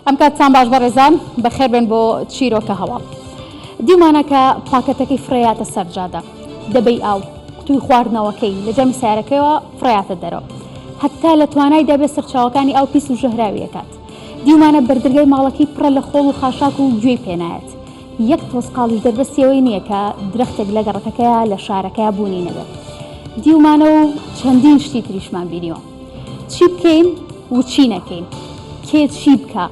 ئەمکاتتان باش بەڕێزان بەخێربێن بۆ چیرۆکە هەواڵ دیمانە کە پاکەتەکەی فڕێاتە سەرجادە دەبەی ئاو توی خواردنەوەکەی لە جەمی سارەکەیەوە فڕاتە دەرەوە هەتا لە توانای دەبێت سەرچاوەکانی ئەو پیس و ژەهراویەکات دیمانە بەردرگای ماڵەکەی پڕە لە خۆڵ و خاشاک و گوێی پێنایەت یەک تۆزقاڵیش دەربەستی ئەوەی نییە کە درەختێک لە گەڕەکەکەیا، لە شارەکەیا بوونی نەبێت. دیومانە و چەندین شتی تریشمان بینیوە. چی بکەین و چی نەکەین، کێ چی بکا،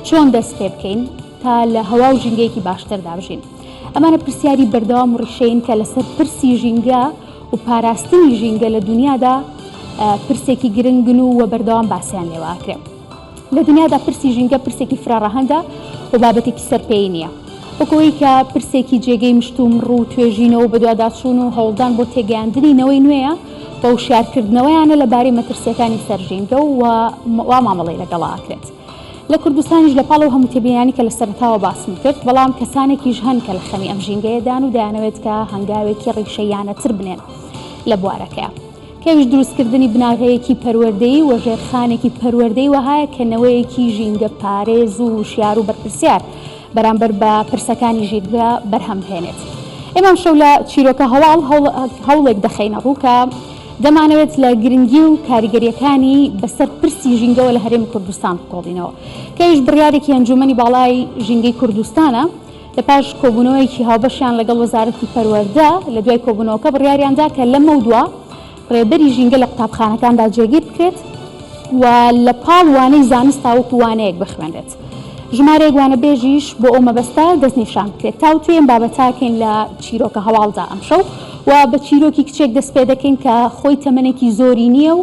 چۆن دەست پێ بکەین تا لە هەوا و ژینگەیەکی باشتردا بژین؟ ئەمانە پرسیاری بەردەوام و ڕیشەیین کە لەسەر پرسی ژینگە و پاراستنی ژینگە لە دونیادا پرسێکی گرنگن و بەردەوام باسیان لێوە ئەکرێ. لە دنیادا پرسی ژینگە پرسێکی فرەڕەهەندە و بابەتێکی سەر پێی نییە، وەک ئەوەی کە پرسێکی جێگەی مشتومڕ و توێژینەوە و بەدواداچوون و هەوڵدان بۆ تێگەیاندنی نەوەی نوێیە و وشیارکردنەوەیانە لەبارەی مەترسییەکانی سەر ژینگە و وا مامەڵەی لەگەڵا ئەکرێت لە کوردستانیش. لەپاڵ ئەو هەموو تێبینیانەی کە لە سەرەتاوە باسم کرد، بەڵام کەسانێکیش هەن کە لە خەمی ئەم ژینگەیەدان و دەیانەوێت کە هەنگاوێکی ڕیشەییانەتر بنێن لە بوارەکەیا. پێویست دروستکردنی بناغەیەکی پەروەردەیی و ژێرخانێکی پەروەردەی وەهایە کە نەوەیەکی ژینگە پارێز و وشیار و بەرپرسیار بەرامبەر بە پرسەکانی ژینگە بەرهەم بهێنێت. ئێمە ئەمشەو لە چیرۆکە هەواڵ هەوڵێک دەخەینە ڕوو کە دەمانەوێت لە گرنگی و کاریگەرییەکانی بەسەر پرسی ژینگەوە لە هەرێمی کوردستان بکۆڵینەوە کە ئەویش بڕیارێکی ئەنجوومەنی باڵای ژینگەی کوردستانە لە پاش کۆبوونەوەیەکی هاوبەشیان لەگەڵ وەزارەتی پەروەردە، لە دوای کۆبوونەوەکە بڕیاریان دا کە لەمەودوا ڕێبەری ژینگە لە قوتابخانەکاندا جێگیر بکرێت و لە پاڵ وانەی زانست تاوەکو وانەیەک بخوێنرێت ژمارەیەک وانەبێژیش بۆ ئەو مەبەستە دەستنیشان بکرێت. تاوتوێی ئەم بابەتەکەین لە چیرۆکە هەواڵدا ئەمشەو و بە چیرۆکی کچێک دەست پێدەکەین کە خۆی تەمەنێکی زۆری نییە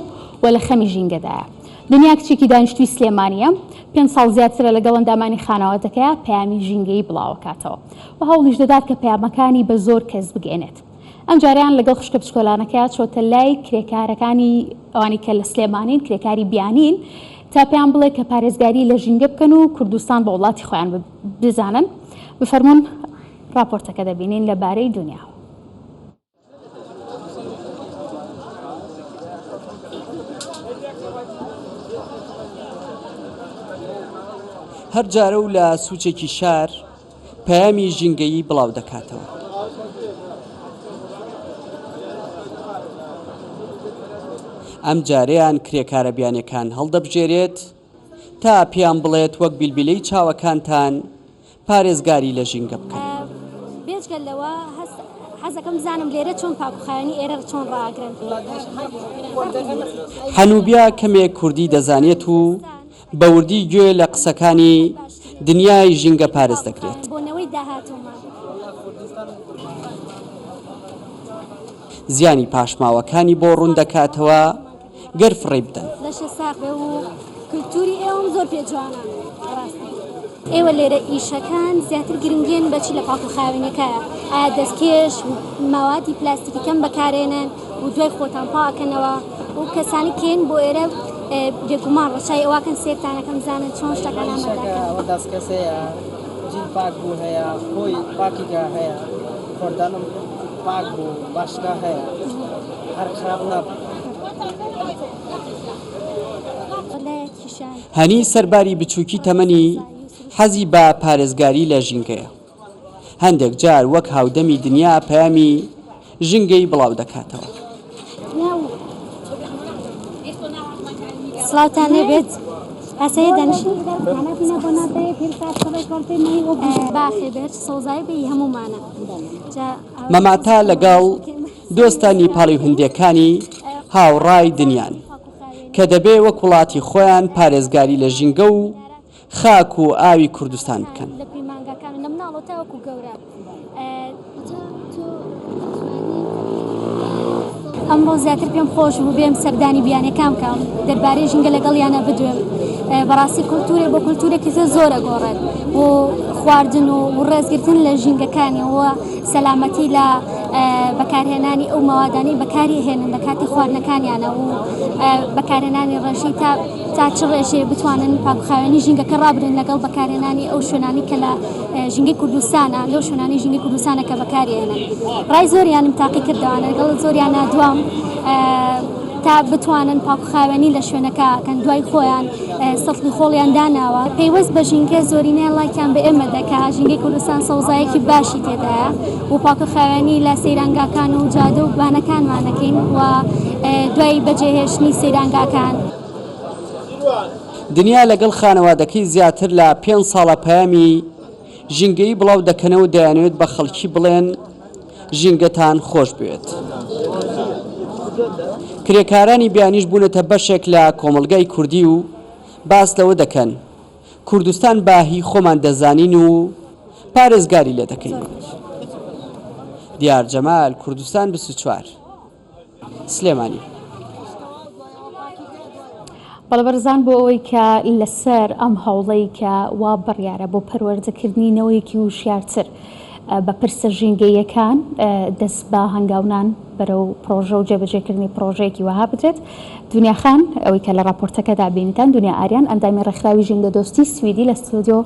و لە خەمی ژینگەدایە. دنیا کچێکی دانیشتووی سلێمانییە، پێنج ساڵ زیاترە لەگەڵ ئەندامانی خانەوادەکەیا پەیامی ژینگەیی بڵاوکاتەوە و هەوڵیش دەدات کە پەیامەکانی بە زۆر کەس بگەینێت. ئەمجارەیان لەگەڵ خوشکە بچکۆلانەکەیا چۆتە لای کرێکارەکانی ئەوانی کە لە سلێمانین کرێکاری بیانین تا پێیان بڵێ کە پارێزگاری لە ژینگە بکەن و کوردستان بە وڵاتی خۆیان بزانن. بفەرموون راپۆرتەکە دەبینین لە بارەی دنیا. هەر جارە و لە سوچێکی شار پەیامی ژینگەیی بڵاو دەکاتەوە. ئەم جارەیان کرێکارە بیانیەکان هەڵدەبژێرێت، تا پێیان بڵێت وەک بیلبیلەی چاوەکانتان پارێزگاری لە ژینگە بکەن. بێجگە لەوە حەزەکەم بزانم لێرە چۆن پاکوخاوێنی ئێرە چۆن ڕاگرن. حەنوبیا کەمێک کوردی دەزانێت و بە وردی گوێ لە قسەکانی دنیای ژینگە پارێز دەگرێت. زیانی پاشماوەکانی بۆ ڕوون دەکاتەوە. گەر فڕێی بدەن. لەشە ساغ بێ و کلتوری ئێوەم زۆر پێ جوانە بەڕاستی. ئێوە لێرە ئیشەکان زیاتر گرنگن بەچی لە پاکو خاوێنەکایە ئایا دەستکێش و مەوادی پلاستیکی کەم بەکارێنن و دوای خۆتان پا ئەکەنەوە و کەسانی کێن بۆ ئێرە بێگومان ڕەچای ئەواکەن سێرتان ئەکەم بزانن چۆن شتەکان ئامادە ئەکەن. ئەوە دەستکێس هەیە جیل پاک بوو هەیە خۆی پاکیگا هەیە خۆردەنم پاک بوو باشگا هەیە. هەنی سەرباری بچووکی تەمەنی، حەزی بە پارێزگاری لە ژینگەیە. هەندێک جار وەک هاودەمی دنیا پەیامی ژینگەی بڵاو دەکاتەوە. سڵاوتان لێبێت ئاسەیە دەنشین باخێ بێت سۆزای بی هەمومانە مەماتا لەگەڵ دۆستە نیپاڵی و هندێکانی هاوڕای دنیان کە دەبێ وەک وڵاتی خۆیان پارێزگاری لە ژینگە و خاک و ئاوی کوردستان بکەن. ئەمڕۆ زیاتر پێم خۆش بوو بێم سەردانی بیانەکان بکەم دەربارەی ژینگە لەگەڵیانە بدوێم بەڕاستی کولتورێ بۆ کولتورێکی زۆر زۆرە گۆڕێت و خواردن و ڕێزگرتن لە ژینگەکانیەوە سەلامەتی لە بەکارهێنانی ئەو مەوادانەی بەکاری ئەهێنن لە کاتی خواردنەکانیانە و بەکارهێنانی ڕێژەی تا تا چ ڕێژەیە بتوانن پاکخاوێنی ژینگەکە ڕابرن لەگەڵ بەکارهێنانی ئەو شوێنانی کە لە ژینگەی کوردستانە لەو شوێنانی ژینگەی کوردستانە کە بەکاری ئەهێنن ڕای زۆریانم تاقی کردەوە لەگەڵ زۆریانە دوام تا بتوانن پاکوخاوێنی لە شوێنەکە کەن دوای خۆیان سەفڵی خۆڵیان داناوە پەیوەست بە ژینکە زۆرینەیان لایکیان بە ئێمە دەکا ژینگەی کوردستان سەوزایەکی باشی تێدایە و پاکوخاوێنی لە سەیرانگاکان و جادە و بانەکانمانەکەین و دوای بەجێهێشتنی سەیرانگاکان دنیا لەگەڵ خانەوادەکەی زیاتر لە پێنج ساڵە پەیامی ژینگەیی بڵاو دەکەنەوە دەیانەوێت بە خەڵکی بڵێن ژینگەتان خۆش بوێت. کرێکارانی بیانیش بوونەتە بەشێک لە کۆمەڵگای کوردی و باس لەوە دەکەن کوردستان بە هی خۆمان دەزانین و پارێزگاری لێ دەکەین. دیار جەمال، کوردستان بیست و چوار. سلێمانی. بەڵێ بەڕێزان بۆ ئەوەی کە لەسەر ئەم هەوڵەی کە وا بڕیارە بۆ پەروەردەکردنی نەوەیەکی وشیارتر بە پرسە ژینگەییەکان دەست بە هەنگاونان بەرەو پڕۆژە و جێبەجێکردنی پڕۆژەیەکی وەها بدرێت دونیا خان ئەوەی کە لە ڕاپۆرتەکەدا بینیتان دونیا ئاریان ئەندامی ڕێکخراوی ژینگەدۆستی سویدی لە ستۆدیۆ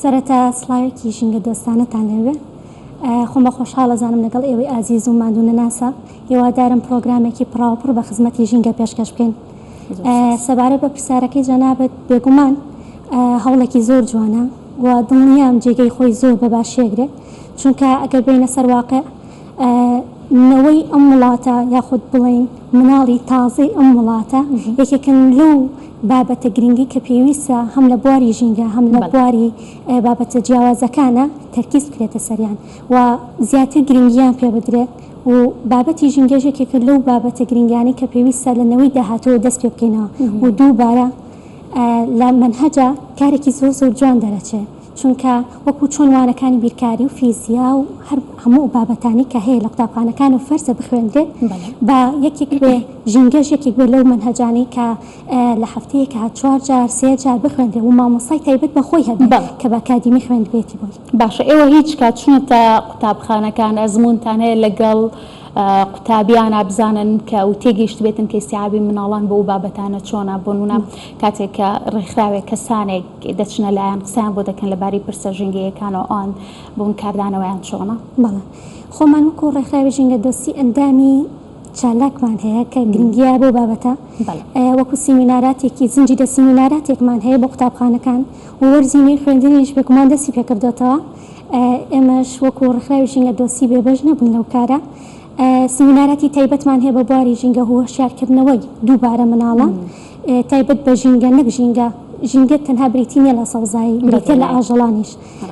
سەرەتا سڵاوێکی ژینگە دۆستانەتان لێبێ. خۆم بە خۆشحاڵ ئەزانم لەگەڵ ئێوەی ئازیز و ماندوو نەناسا. هیوادارم پڕۆگرامێکی پڕاوپڕ بە خزمەتی ژینگە پێشکەش بکەین. سەبارەت بە پرسیارەکەی جەنابت، بێگومان هەوڵێکی زۆر جوانە و دڵنیام جێگەی خۆی زۆر بە باشی ئەگرێ، چونکە ئەگەر بێینە سەر واقیع، نەوەی ئەم وڵاتە یاخود بڵێین مناڵی تازەی ئەم وڵاتە یەکێکن لەو بابەتە گرنگەی کە پێویستە هەم لە بواری ژینگە هەم لە بواری بابەتە جیاوازەکانە تەرکیز بکرێتە سەریان و زیاتر گرنگیان پێ بدرێت و بابەتی ژینگەش یەکێکە لەو بابەتە گرنگانەی کە پێویستە لە نەوەی داهاتووەوە دەست پێ بکەینەوە و دووبارە لە مەنهەجا کارێکی زۆر زۆر جوان دەرەچێ. چونکە وەکو چۆن وانەکانی بیرکاری و فیزیا و هەر هەموو بابەتانەی کە هەیە لە قوتابخانەکان و فەرزە بخوێنرێت بە یەکێک بێ ژینگەش یەکێک بێ لەو مەنهەجانەی کە لە هەفتەیەکا چوار جار سێ جار بخوێنرێ و مامۆستای تایبەت بە خۆی هەبێ کە بە ئەکادیمی خوێندبێتی بۆی. باشە ئێوە هیچ کات چوونەتە قوتابخانەکان ئەزموونتان هەیە لەگەڵ قوتابیانا بزانن کە و تێگەیشتبێتن کە ئیستیعابی مناڵان بۆ ئەو بابەتانە چۆنە بۆنموونە کاتێک کە ڕێکخراوێک کەسانێک دەچنە لایان قسەیان بۆ دەکەن لەباری پرسە ژینگەییەکانەوە ئەوان بوون کاردانەوەیان چۆنە؟ بەڵێ خۆمان وەکو ڕێکخراوی ژینگە دۆستی ئەندامی چالاکمان هەیە کە گرنگیە بەو بابەتە وەکو سیمیناراتێکی زنجی دە سیمیناراتێکمان هەیە بۆ قوتابخانەکان و وەرزی نوێی خوێندنیش بێگومان دەستی پێکردۆتەوە ئێمەش وەکو ڕێکخراوی ژینگە دۆستی بێبەش نەبوون لەو کارە سیمیناراتی تایبەتمان هەیە بە بواری ژینگە هو هۆشیارکردنەوەی دووبارە مناڵان تایبەت بە ژینگە نەک ژینگە، ژینگە تەنها بریتی نیە لە سەوزایی، بریتیە لە ئاژەڵانیش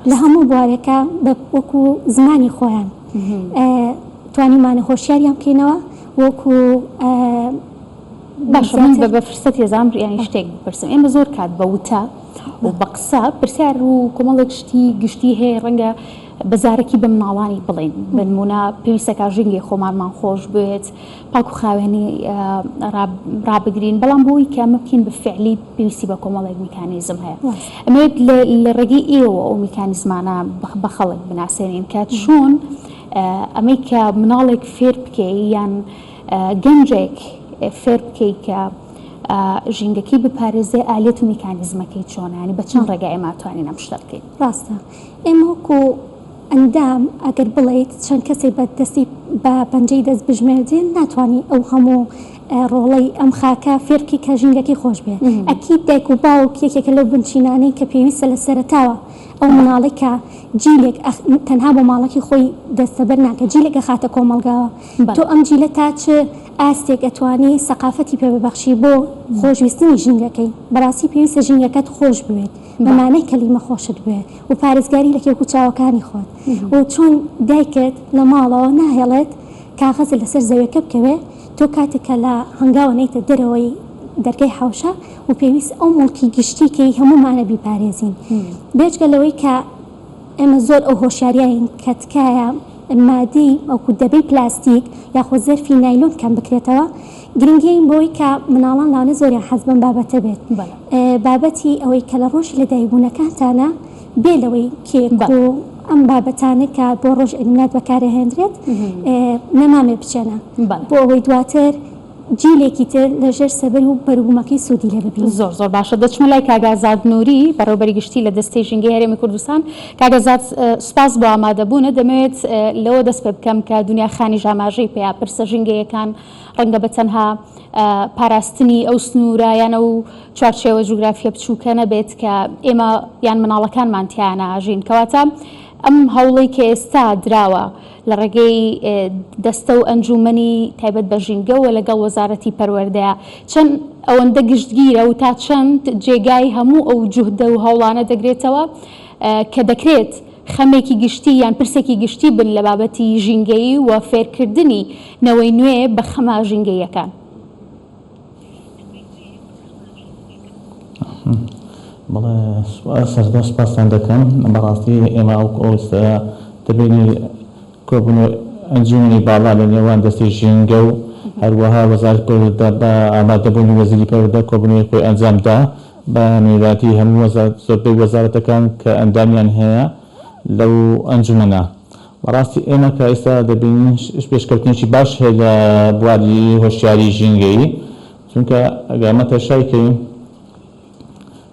لە هەموو بوارێکا بە وەکو زمانی خۆیان توانیومانە هۆشیاریان بکەینەوە وەکو. باشە من بە فرسەتی ئەزانم یانی شتێک بپرسم، ئێمە زۆر کات بە وتە و بە قسە پرسیار و کۆمەڵێک شتی گشتی هەیە ڕەنگە بە زارەکی بە مناڵانی بڵێین بە نمونە پێویستە کاژینگەی خۆمانمان خۆش بێت، پاک و خاوێنی ڕابگرین، بەڵام بۆ ئەوەی کە ئەمە بکەین بە فیعلی پێویستی بە کۆمەڵێک میکانیزم هەیە. ئەمەوێت لە ڕێگەی ئێوە ئەو میکانیزمانە بە خەڵک بناسێنین کە چۆن ئەمەی کە مناڵێک فێر بکەی یان گەنجێک فێر بکەی کە ژینگەکەی بپارێزێ ئالێت و میکانیزمەکەی چۆنە، یانی بە چەند ڕێگا ئێمە ئەتوانین ئەم شتە بکەین؟ ڕاستە ئێمە وەکوو ئەندام، ئەگەر بڵێیت چەند کەسێ بە دەستی بە پەنجەی دەست بژمێردرێن ناتوانی ئەو هەموو ڕۆڵەی ئەم خاکە فێر بکەی کە ژینگەکەی خۆش بێ. ئەکید دایک و باوک یەکێکە لەو بنچینانەی کە پێویستە لە سەرەتاوە ئەو مناڵەی کە جیلێک ئەخ تەنها بۆ ماڵەکەی خۆی دەستەبەر ناکە جیلێک ئەخاتە کۆمەڵگاوە تۆ ئەم جیلە تا چ ئاستێک ئەتوانی سەقافەتی پێ ببەخشی بۆ خۆشویستنی ژینگەکەی بەڕاستی پێویستە ژینگەکەت خۆش بوێت. بە مانای کەلیمە خۆشت بوێ و پارێزگاری لە کێک و چاوەکانی خۆت و چۆن دایکت لە ماڵەوە ناهێڵێت کاغەزت لەسەر زەوێکە بکەوێ تۆ کاتێک کە لە هەنگاوە نەیتە دەرەوەی دەرگای حەوشە و پێویست ئەو موڵکی گشتی کەی هەموومانە بیپارێزین بێجگە لەوەی کە ئێمە زۆر ئەو هۆشیاریین کە تکایە مادەی ئەو دەبەی پلاستیک یاخۆ زەرفی نایلۆن کەم بکرێتەوە گرنگی ئەوین بۆی کە مناڵان لەوانە زۆریان حەز بەم بابەتە بێت بابەتی ئەوەی کە لە ڕۆژی لە دایک بوونەکانتانە بێ لەوەی کێک و ئەم بابەتانە کە بۆ ڕۆژ ئیلمنات بەکارە هێندرێت نەمامێ بچێنە بۆ ئەوەی دواتر جیلێکی تر لە ژێر سەبەر و بەروبوومەکەی سوودی لێ ببین زۆر زۆر باشە دەچمە لای کاگازاد نووری بەڕێوبەری گشتی لە دەستەی ژینگەی هەرێمی کوردستان کاگەزاد سوپاس بۆ ئامادەبوونە دەمەوێت لەوە دەست پێ بکەم کە دنیا خانیش ئاماژەی پێیا پرسە ژینگەیەکان ڕەنگە بە تەنها پاراستنی ئەو سنوورە یان ئەو چوارچێوە جوگرافییە بچووکە نەبێت کە ئێمە یان مناڵەکانمان تیایانە ئاژین. کەواتە ئەم هەوڵەی کە ئێستا دراوە لە ڕێگەی دەستە و ئەنجوومەنی تایبەت بە ژینگە و لەگەڵ وەزارەتی پەروەردەیە چەند ئەوەندە گشتگیرە و تا چەند جێگای هەموو ئەو جوهدە و هەوڵانە دەگرێتەوە کە دەکرێت خەمێکی گشتی یان پرسێکی گشتی بن لە بابەتی ژینگەیی و فێرکردنی نەوەی نوێ بە خەمە ژینگەییەکان. بەڵێ سەرەتا سوپاستان دەکەم بەڕاستی ئێمە ئەو ئەوستەیە دەبینی کۆبوون و ئەنجومەنی باڵا لە نێوان دەستی ژینگە و هەروەها وەزارەتی پەروەردە بە ئامادەبوونی وەزیری پەروەردە کۆبوونەوەی خۆی ئەنجامدا بە میراتی هەموو زۆربەی وەزارەتەکان کە ئەندامیان هەیە لەو ئەنجومەنە. بەڕاستی ئێمە کە ئێستا دەبینین پێشکەوتنێکی باش هەیە لە بواری هۆشیاری ژینگەیی، چونکە ئەگەر ئەمە تەشای کەین،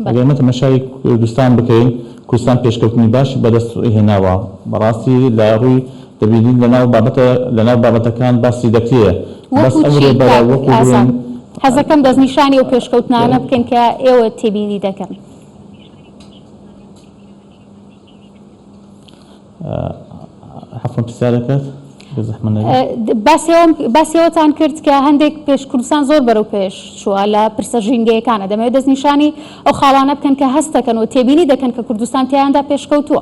ئەگەر ئێمە تەمەشای کوردستان بکەین، کوردستان پێشکەوتنی باشی بەدەست هێناوە بەڕاستی لە ڕووی. دەبینین لەناو بابەتە لەناو بابەتەکان باسی دەکرێ بەس ئەمرۆ بەرە وەکو بڵێن حەزەکەم دەستنیشانی ئەو پێشکەوتنانە بکەین کە ئێوە تێبینی دەکەن. حەفم پرسیارەکەت باسیەوەتان کرد کە هەندێک پێش کوردستان زۆر بەرەو پێش چووە لە پرسە ژینگەیەکانە دەمەوێت دەستنیشانی ئەو خاڵانە بکەن کە هەستەکەن و تێبینی دەکەن کە کوردستان تیاندا پێشکەوتووە.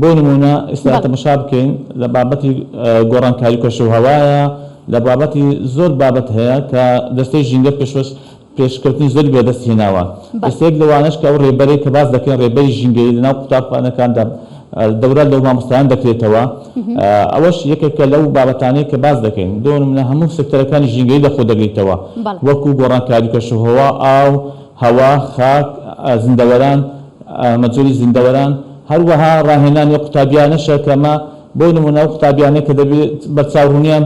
بۆ نموونە ئیستا تەمەشا بکەین لە بابەتی گۆڕانکاری کەشوهەوایە، لە بابەتی زۆر بابەت هەیە کە دەستەی ژینگە پێشوەس پێشکەوتنی زۆری بەدەست هێناوە. ئیستا یەک لەوانەش کە ئەو رێبەرەی کە باس دەکەین رێبەری ژینگەیی لە ناو قوتابخانەکاندا دەورە لە مامۆستایان دەکرێتەوە ئەوەش یەکێکە لەو بابەتانەی کە باس دەکەین بۆ نموونە هەموو سێکتەرەکانی ژینگەیی لە خۆ دەگریتەوە وەکوو گۆڕانکاری کەشوهەوا، ئاو، هەوا، خاک، زیندەوەران، مەجۆری زیندەوەران. هەروەها ڕاهێنان و قوتابیانەشە کە ئەمە بۆ نموونە ئەو قوتابیانەی کە دەبێت بەرچاوڕوونیان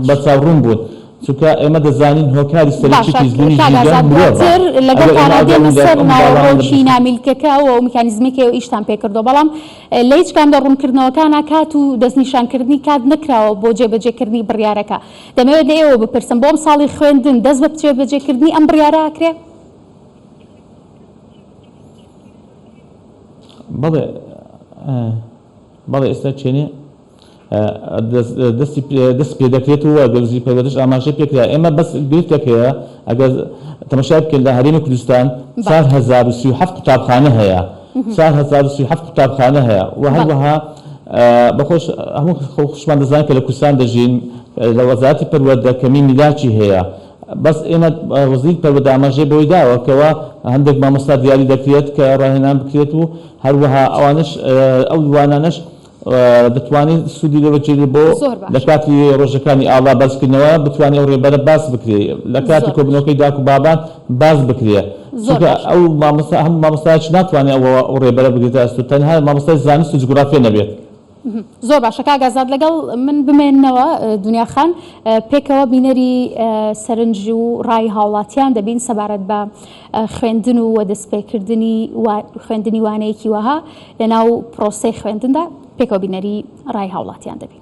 بەرچاوڕوون بوون چونکە ئێمە دەزانین هۆکاری سەرەکی پیسبوونی ژینگە مرۆڤە ئەگەر ئێمە ئەگەڕێینەوە ئەم باوەڕانە نامیلکەکە و ئەو میکانیزمەکەی و ئیشتان پێ کردووە بەڵام لە هیچ کام لە ڕوونکردنەوەکانە کات و دەستنیشانکردنی کات نەکراوە بۆ جێبەجێکردنی بڕیارەکە دەمەوێت لە ئێوە بپرسم بۆ ئەمساڵی خوێندن دەست بە جێبەجێکردنی ئەم بڕیارە ئەکرێ؟ بەڵێ بەڵێ ئێستا چێنێ دەستی دەست پێ دەکرێت و وەزیری وزیری پەروەردەش ئاماژەی پێ کرا ئێمە بەس گرفتەکەیە ئەگەر تەمەشای بکەین لە هەرێمی کوردستان چوار هەزار و سی و حەفت قوتابخانە هەیە چوار هەزار و سی و حەفت قوتابخانە هەیە و هەروەها بەخۆش هەموو خۆشمان دەزانین کە لە کوردستان دەژین لە وەزارەتی پەروەردە کەمی میلاکی هەیە بەس ئێمە ڕزیک پەر بە دامەژێ بۆی داوە کەوا هەندێک مامۆستا دیاری دەکرێت کە ڕاهێنان بکرێت و هەروەها ئەوانەش ئەو وانانەش دەتوانێت سوودی لێ بەجێری بۆ زۆر لە باشە کاتی ڕۆژەکانی ئاڵا بەرزکردنەوە بتوانێت ئەو ڕێبەرە باس بکرێ لە کاتی زۆر باشە کۆبوونەوەکەی داک و بابان باس بکرێ زۆر چونکە باشە ئەو مامۆستا هەموو مامۆستایەکی ناتوانێت ئەو ڕێبەرە بگرێتە ئەستۆ تەنها مامۆستای زانست و جوگرافیا نەبێت. زۆر باشە کاک ئازاد لەگەڵ من بمێنەوە دونیا خان پێکەوە بینەری سەرنج و ڕای هاوڵاتیان دەبین سەبارەت بە خوێندن و وە دەستپێکردنی خوێندنی وانەیەکی وەها لەناو پرۆسەی خوێندندا پێکەوە بینەری ڕای هاوڵاتیان دەبین.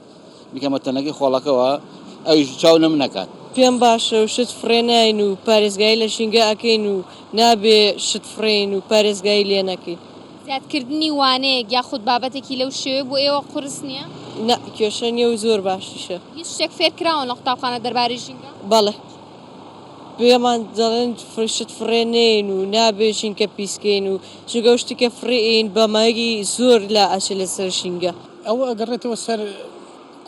بکەمە تەنەکەی خۆڵەکەوە ئەویش چاو لەمن ئەکات. پێم باشە و شت فڕێ ناین و پارێزگایی لە ژینگە ئەکەین و نابێ شت فڕێین و پارێزگایی لێ نەکەین. زیادکردنی وانەیەک یاخود بابەتێکی لەو شێوەی بۆ ئێوە قورس نییە؟ نا، کێشە نییە و زۆر باشیشە. هیچ شتێک فێر کراون لە قوتابخانە دەربارەی ژینگە؟ بەڵێ. پێمان دەڵێن شت فڕێ نێین و نابێ ژینگە پیس کەین و چونکە ئەو شتی کە فڕێ ئێین بە مایەکی زۆر لا ئەچێ لەسەر ژینگە. ئەوە ئەگەڕێتەوە سەر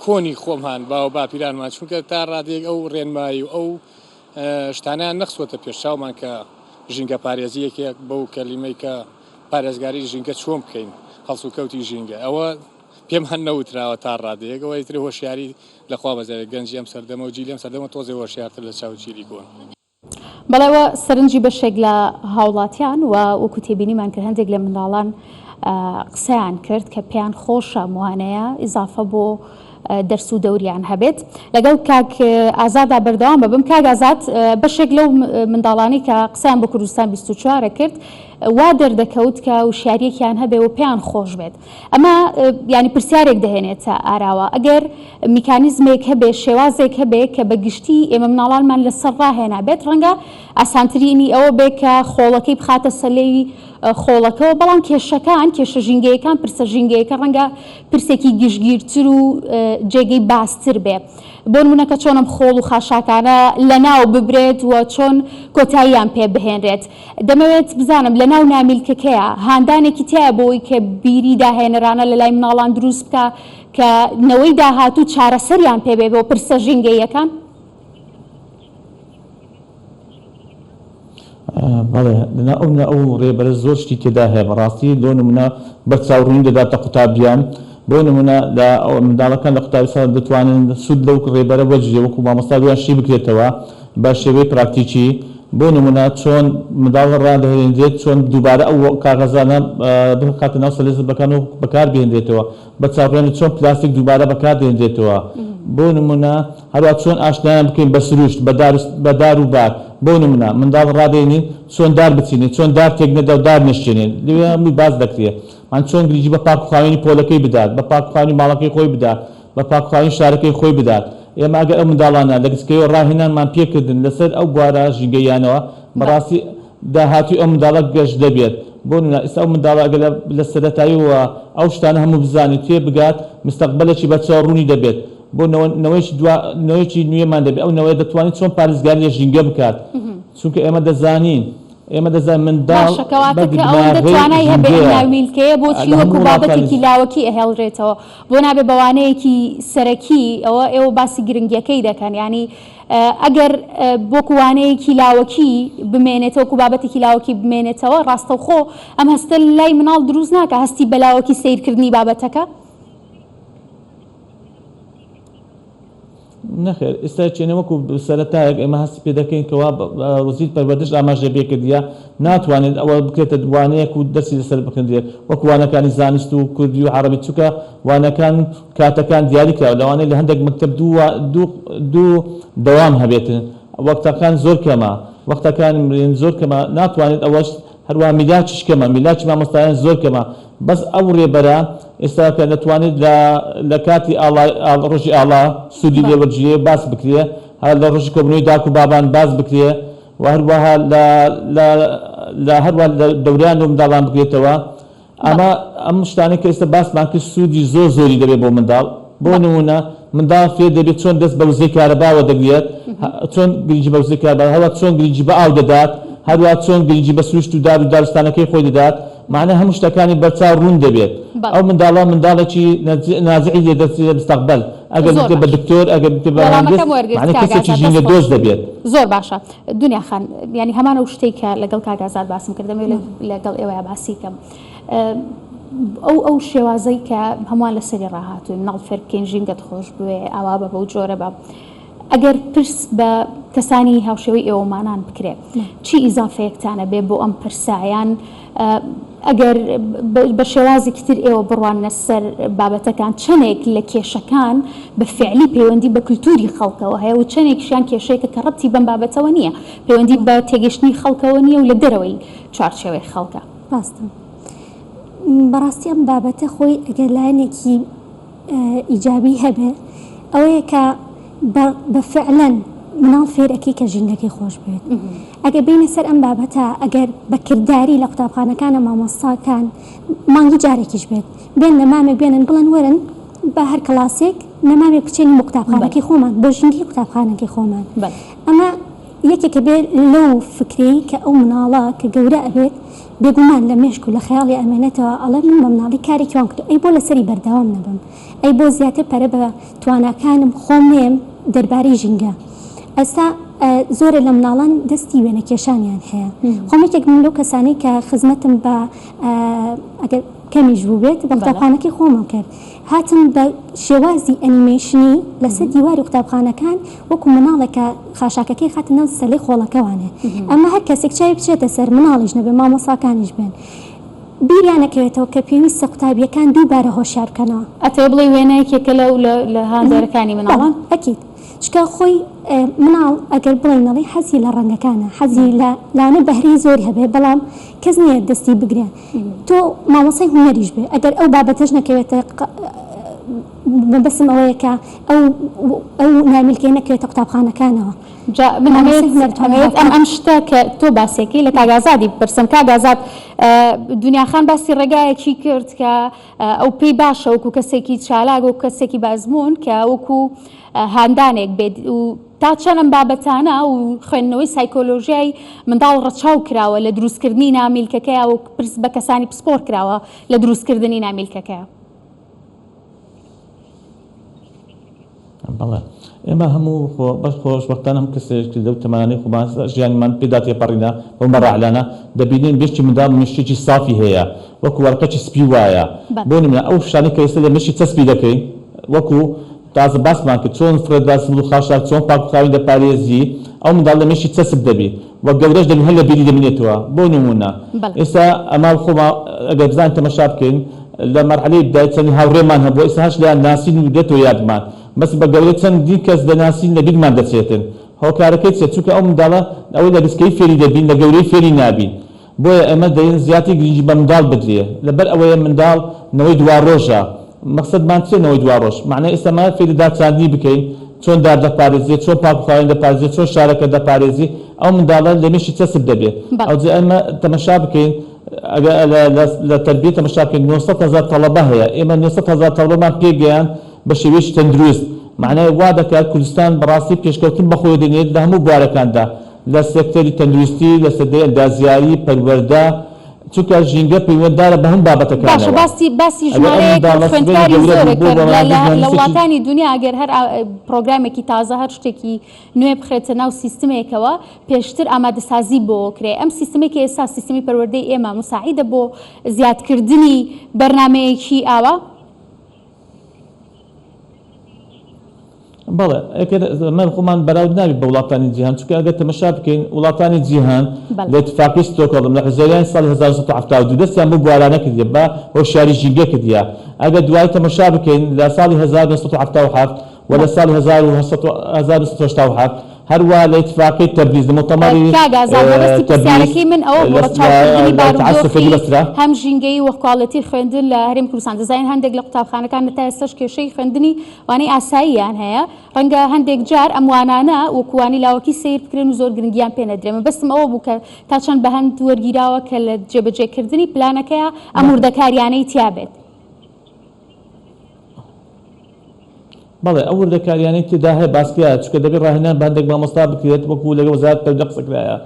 کۆنی خۆمان باو باپیرانمان چونکە تا ڕادەیەک ئەو ڕێنمایی و ئەو شتانیان نەخسوەتە پێشچاومان کە ژینگە پارێزی یەکێک بەو کەلیمەی کە پارێزگاری ژینگە چۆن بکەین هەڵسوکەوتی ژینگە ئەوە پێمان نەوتراوە تا ڕادەیەک ئەوە ئیتر هۆشیاری لەخوا بەزێ گەنجی ئەم سەردەمە و جیلی ئەم سەردەمە تۆزێ هۆشیارتر لە چاو جیلی کۆن. بەڵێوە سەرنجی بەشێک لە هاوڵاتیان و وەکو تێبینیمان کرد هەندێک لە منداڵان قسەیان کرد کە پێیان خۆشە موانەیە ئیزافە بۆ دەرس و دەوریان هەبێت لەگەڵ کاک ئازادا بەردەوام بەبم کاک ئازاد بەشێک لەو منداڵانی کە قسەیان بۆ کوردستان 24 کرد وا دەردەکەوت کە وشیاریەکیان هەبێ و پێیان خۆش بێت ئەمە یانی پرسیارێک دەهێنێتە ئاراوە، ئەگەر میکانیزمێک هەبێ، شێوازێک هەبێ کە بە گشتی ئێمە مناڵانمان لە سەر ڕاهێنابێت، ڕەنگە ئاسانترینی ئەوە بێ کە خۆڵەکەی بخاتە سەلێوی خۆڵەکەوە، بەڵام کێشەکان، کێشە ژینگەیەکان، پرسە ژینگەیەکە ڕەنگە پرسێکی گشتگیرتر و جێگەی باستر بێ. بۆ نموونە کە چۆن ئەم خۆڵ و خاشاکانە لە ناو ببرێت و چۆن کۆتاییان پێ بهێنرێت. دەمەوێت بزانم لە ناو نامیلکەکەیە هاندانێکی تیایە بۆی کە بیری داهێنەرانە لە لای مناڵان دروست بکا کە نەوەی داهاتوو چارەسەریان پێ بێ بۆ پرسە ژینگەییەکان؟ بەڵێ لە ئەو لە ئەو ڕێبەرە زۆر شتی تێدا هەیە بەڕاستی لۆ نمونە بە چاوڕوونی دەداتە قوتابیان بۆ نمونە لە منداڵەکان لە قوتابی سەر دەتوانن سود لەو ڕێبەرە وەرگیرێ وەکو مامۆستا لۆیان شی بکرێتەوە بە شێوەی پراکتیکی، بۆ نموونە چۆن منداڵ ڕادەهێنرێت چۆن دووبارە ئەو کاغەزانە بخاتە ناو سەلیزبەکان و بەکاربهێنرێتەوە، بە چاوڕێن چۆن پلاستیک دووبارە بەکاردێنرێتەوە، بۆ نموونە هەروەها چۆن ئاشنایان بکەین بە سروشت، بە دار و بار، بۆ نموونە منداڵ ڕادەینین چۆن دار بچینێت، چۆن دار تێکنەدا و دار نەشکێنێت، لەوێ هەمووی باس دەکرێت، یان چۆن گرنگی بە پاکوخاوێنی پۆلەکەی بدات، بە پاکوخاوێنی ماڵەکەی خۆی بدات، بە پاکخواین شارەکەی خۆی بدات. ئێمە ئەگەر ئەو منداڵانە لە گسکەیەوە ڕاهێنانمان پێ کردن لەسەر ئەو بوارە ژینگەییانەوە، بە ڕاستی داهاتووی ئەو منداڵە گەش دەبێت. بۆ نموونە ئیستا ئەو منداڵە ئەگەر لە لە سەرەتاییەوە ئەو شتانە هەموو بزانێت تێ بگات، مستەقبەلێکی بە چەوە ڕوونی دەبێت. بۆ نەوە نەوەیەکی دوا نەوەیەکی نوێمان دەبێت. ئەو نەوەیە دەتوانێت چۆن پارێزگاری لە ژینگە بکات. چونکە ئێمە دەزانین ئێمە دەزانین منداڵ باشە کەواتە کە ئەوەندە توانای هەبێ ئەم ناویلکەیە بۆچی وەکو بابەتێکی لاوەکی ئەهێڵرێتەوە بۆ نابێ بە وانەیەکی سەرەکی ئەوە ئێوە باسی گرنگیەکەی دەکەن ینی ئەگەر بۆکو وانەیەکی لاوەکی بمێنێتەوە و بابەتێکی لاوەکی بمێنێتەوە ڕاستەوخۆ ئەم هەستە لای مناڵ دروست ناکە هەستی بەلاوەکی سیرکردنی بابەتەکە نەخێر ئیستا چێنە وەکو سەرەتایەک ئێمە هەستی پێ دەکەین کەوا وەزیر پەروەردەش ئاماژەی بێ کردیە ناتوانێت ئەوە بکرێتە وانەیەک و دەرسی لەسەر بخندرێت وەکو وانەکانی زانست و کوردی و عەڕەبی چونکە وانەکان کاتەکان دیاری کراوە لەوانەیە لە هەندێک مەکتەب دوو وا دوو دوو دەوام هەبێت وەقتەکان زۆر کەمە وەقتەکان زۆر کەمە ناتوانێت ئەوەش هەروا میلاچیش کەمە میلاچی مامۆستایان زۆر کەمە بەس ئەو رێبەرە ئێستا کە دەتوانێت لە لە کاتی ئاڵا ئاڵ رۆژی ئاڵا سوودی لێ بەڵێ. وەرگیرێ باس بکرێ هەر لە رۆژی کۆبوونەوەی داک و بابان باس بکرێ و هەروەها لە لە لە هەروەها لە دەوران و منداڵان بکرێتەوە ئەمە بەڵێ. ئەم شتانەی کە ئێستا باسمان کرد سوودی زۆر زۆری دەبێ بۆ منداڵ بۆ بەڵێ. نموونە منداڵ فێر دەبێ چۆن دەست بە وزەی کارەباوە دەگرێت هە چۆن گرنگی بە وزەی کارەبا هەروەها چۆن گرنگی بە ئاو دەدات هەروەها چۆن گرنگی بە سروشت و دار و دارستانەکەی خۆی دەدات مەعنای هەموو شتەکانی بەرچاو ڕوون دەبێت ئەو منداڵە منداڵێکی نازعی لێ دەرچێت مستەقبەل ئەگەر بکرێت بە دکتۆر ئەگەر بکرێت بە مهندس مەعنای کەسێکی ژینگە دۆست دەبێت. زۆر باشە دنیا خان یانی هەمان ئەو شتەی کە لەگەڵ کاک ئازاد باسم کرد دەمەوێ لەگەڵ ئێوەیا باسی کەم ئەو ئەو شێوازەی کە هەمووان لەسەری ڕاهاتووین ماڵ فێر بکەین ژینگەت خۆش بوێ ئاوا بە بەو جۆرە بە ئەگەر پرس بە کەسانی هاوشێوەی ئێوەمانان بکرێ چی ئیزافەیەکتان ئەبێ بۆ ئەم پرسە؟ یان ئەگەر بە شێوازێکی تر ئێوە بڕواننە سەر بابەتەکان چەندێک لە کێشەکان بە فیعلی پەیوەندی بە کولتووری خەڵکەوە هەیە و چەندێکیشیان کێشەیەکە کە ڕەبتی بەم بابەتەوە نییە، پەیوەندی بە تێگەیشتنی خەڵکەوە نییە و لە دەرەوەی چوارچێوەی خەڵکە؟ ڕاستە. بەڕاستی ئەم بابەتە خۆی ئەگەر لایەنێکی. ئیجابی هەبێ ئەوەیە کە بە فعلەن مناڵ فێرەکەی کە ژینگەکەی خۆش بێت ئەگەر بینە سەر ئەم بابەتە ئەگەر بەکردداری لە قوتابخانەکانە مامۆستاکان مانگی جارێکیش بێت بێن لە مامێک بێنن بڵێن وەرن بە هەر کلاسێک نەمامێ بچێن بۆ قوتابخانەکەی خۆمان بۆ ژینگی قوتابخانەکەی خۆمان ئەمە یەکێکە بێت لەو فکری کە ئەو مناڵە کە گەورە ئەبێت بێگومان لە مێشک و لە خەیاڵی ئەمێنێتەوە ئەڵێ من بە مناڵی کارێکی وام کردوە ئەی بۆ لەسەری بەردەوام نەبم ئەی بۆ زیاتر پەرە بە تواناکانم خۆم نەیەم دەربارەی ژینگە ئێستا زۆرێ لە مناڵان دەستی وێنە کێشانیان هەیە خۆم یەکێک من لەو کەسانەی کە خزمەتم بە ئەگەر کەمیش بوو بێت بە قوتابخانەکەی خۆمم کرد هاتن بە شێوازی ئەنیمەیشنی لەسەر دیواری قوتابخانەکان وەکو مناڵێک کە خاشاکەکەی خاتە ناو سەلی خۆڵەکەوانێ ئەمە هەر کەسێک چاوی بچێتە سەر مناڵیش نەبێ مامۆساکانیش بێن بیریان نەکەوێتەوە کە پێویستە قوتابیەکان دووبارە هۆشیار بکەنەوە. ئەتەوێ بڵێی وێنە یەکێکە لەو لە هاندەرەکانی مناڵان؟ بەڵێ ئەکید چونکە خۆی مناڵ ئەگەر بڵێینەڵی حەزی لە ڕەنگەکانە حەزی لە لانە بەهرەی زۆری هەبێ بەڵام کەس نییە دەستی بگرێ تۆ مامۆسای هونەریش بێ ئەگەر ئەو بابەتەش نەکەوێتە ق مەبەستم ئەوەیە کە ئەو ئەو نایملکەیە نەکەوێتە قوتابخانەکانەوە جا من مامۆسای ئەمەوێت هونەرتان ئەمەوێت ئەم هاوکات ئەم شتە کە تۆ باسیەکەی لە کاک ئازادی بپرسم کاک ئازاد ە دنیا خان باسی ڕێگایەکی کرد کە ە ئەو پێی باشە وەکو کەسێکی چالاک وەکو کەسێکی بە ئەزموون کە وەکو ە هاندانێک بێت و تا چەند ئەم بابەتانە و خوێندنەوەی سایکۆلۆژیای منداڵ ڕەچاو کراوە لە دروستکردنی نامیلکەکەیا و پرس بە کەسانی پسپۆڕ کراوە لە دروستکردنی نامیلکەکەیا؟ بەڵێ ئێمە هەموو خۆ بەس خۆشبەختانە هەم کەسێکی لەو تەمەنانەی خۆمان ژیانمان پێدا تێپەڕینا بەو مەراحلانە دەبینین مێشکی منداڵ مێشکێکی سافی هەیە وەکو وەرقەکی سپی وایە بۆ نموونە ئەو شتانەی کە ئێستا لە مێشکی چەسپی دەکەین وەکو تازە باسمان کرد چۆن فرە دەاسمل و خاشاک چۆن پاک و خاوێن دەپارێزی ئەو منداڵە لە مێشی چەسپ دەبی و گەورەش دەبی هەر لە بیری دەمینێتەوە بۆ نمونە بەڵێ. ئێستا ئەما خۆما ئەگەر بزانین تەمەشا بکەین لە مەرحەلەی ابتدائی چەندین هاوڕێمان هەبوو ئێستا هەر شتیان ناسین و دێتەوە یادمان بەس بە گەورەی چەندین کەس دەناسین لە بیرمان دەچێتن هۆکارەکەی چیە چونکە ئەو منداڵە ئەوەی لە گچکەیی فێری دەبین لە گەورەی فێری نابین بۆیە ئێمە دەین زیاتر گرنگی بە منداڵ بدرێ لەبەر ئەوەیە منداڵ نەوەی دواڕۆژە مەقسەدمان چیە نەوەی دواڕۆژ مەعنای ئێستامان فێری دارچاندنی بکەین چۆن دار دەپارێزێ چۆن پاک و خاوێن دەپارێزێ چۆن شارەکە دەپارێزی ئەو منداڵە لە مێشی چەسپ دەبێ بەڵێ. ئەوجە ئێمە تەمەشا بکەین ئەگە لە لە لە تەربیە تەمەشا بکەین نۆ سەد هەزار تەڵەبە هەیە ئێمە نۆ سەد هەزار تەڵەبەمان پێ گەیاند بە شێوەیەکی تەندروست مەعنای وا دەکات کوردستان بەڕاستی پێشکەوتن بەخۆوە دێنێت لە هەموو بوارەکاندا لە سێکتەری تەندروستی، لە سێکتەری ئەندازیاری، پەروەردە، چونکە ژینگە پەیوەنددارە بە هەموو باشە بابەتەکانەوە. باسی باسی ئەگەر ئەم ژمارەیەک منداڵە سبەی خوێندکاری گەورە زۆرە بوو بۆ کە لە بەڕێوەبردنی لە لە زانستێکی وڵاتانی دونیا ئەگەر هەر پڕۆگرامێکی تازە هەر شتێکی نوێ بخرێتە ناو سیستمێکەوە پێشتر ئامادەسازی بۆ کرێ ئەم سیستمەی کە ئێستا سیستمی پەروەردەی ئێمە موساعیدە بۆ زیادکردنی بەرنامەیەکی ئاوا؟ بەڵێ ئەگەر نرخ خۆمان بەراورد نابێت بە وڵاتانی جیهان چونکە ئەگەر تەمەشا بکەین وڵاتانی جیهان بەڵێ. لە اتفاقی ستۆکهۆڵم لە حوزەیرانی ساڵی هەزار و نۆ سەد و حەفتا و دوو دەستیان بەو بوارانە کردیە بە هۆشیاری ژینگە کردیە ئەگەر دوایی تەمەشا بکەین لە ساڵی هەزار و نۆ سەد و حەفتا و حەفت و لە ساڵی هەزار و هەشت سەد و هەشتا و حەفت هەروا لە ئیتفاقی تەبریز لە موتەمەڕی تەبریز کاک ئازاد مەبەستی پرسیارەکەی من ئەوە بوو لە چاوکردنی بارودۆخی هەم ژینگەیی و کواڵێتی خوێندن لە هەرێمی کوردستان دەزانین هەندێک لە قوتابخانەکان هەتا ئێستاش کێشەی خوێندنی وانەی ئاساییان هەیە ڕەنگە هەندێک جار ئەم وانانە وەکو وانەی لاوەکی سەیر بکرێن و زۆر گرنگیان پێ نەدرێ مەبەستم ئەوە بوو کە تا چەند بەهەند وەرگیراوە کە لە جێبەجێکردنی پلانەکەیا ئەم وردەکارییانەی تیا بێت. بەڵێ ئەو وردەکاریانەی تێدا هەیە باس کرایە، چونکە دەبێت ڕاهێنان بە هەندێک مامۆستا بکرێت وەکو لەگەڵ وەزارەتی تەربیە قسە کرایە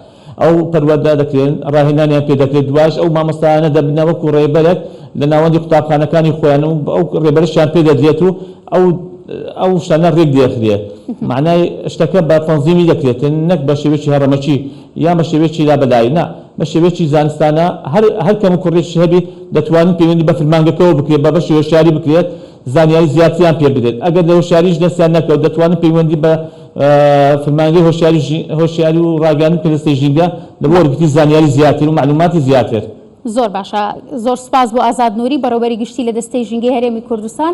ئەو پەروەردە دەکرێن ڕاهێنانیان پێ دەکرێت دوایش ئەو مامۆستایانە دەبنە وەکو ڕێبەرێک لە ناوەندی قوتابخانەکانی خۆیان و ئەو ڕێبەرەشیان پێ دەدرێت و ئەو ئەو شتانە ڕێک دەخرێت مەعنای شتەکە بە تەنزیمی دەکرێت نەک بە شێوەیەکی هەڕەمەکی یان بە شێوەیەکی لابەلایی نا بە شێوەیەکی زانستانە هەر هەر کەم و کوڕیەکی هەبیت دەتوانن پەیوەندی بە فرمانگەکەوە بکرێت بە بەشی هۆشیاری بکرێت زانیاری زیاتریان پێ بدرێت ئەگەر لە هۆشیاریش دەستیان نەکەوت دەتوانن پەیوەندی بە فرمانگەی هۆشیاری ژی هۆشیاری و ڕاگەیاندن کەرەستەی ژینگە لە بۆ وەرگرتنی زانیاری زیاتر و مەعلوماتی زیاتر. زۆر باشە زۆر سوپاس بۆ ئازاد نوری بەڕێوبەری گشتی لە دەستەی ژینگەی هەرێمی کوردستان.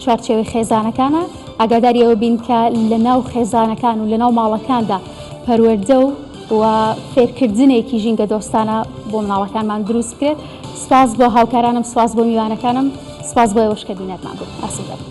چوارچێوەی خێزانەکانە، ئاگاداری ئەوە بین کە لە ناو خێزانەکان و لە ناو ماڵەکاندا پەروەردە و و فێرکردنێکی ژینگە دۆستانە بۆ مناڵەکانمان دروست بکرێت سپاس بۆ هاوکارانم سپاس بۆ میوانەکانم سپاس بۆ ئێوەش کە بینەرمان بوو ئەسف دەبم.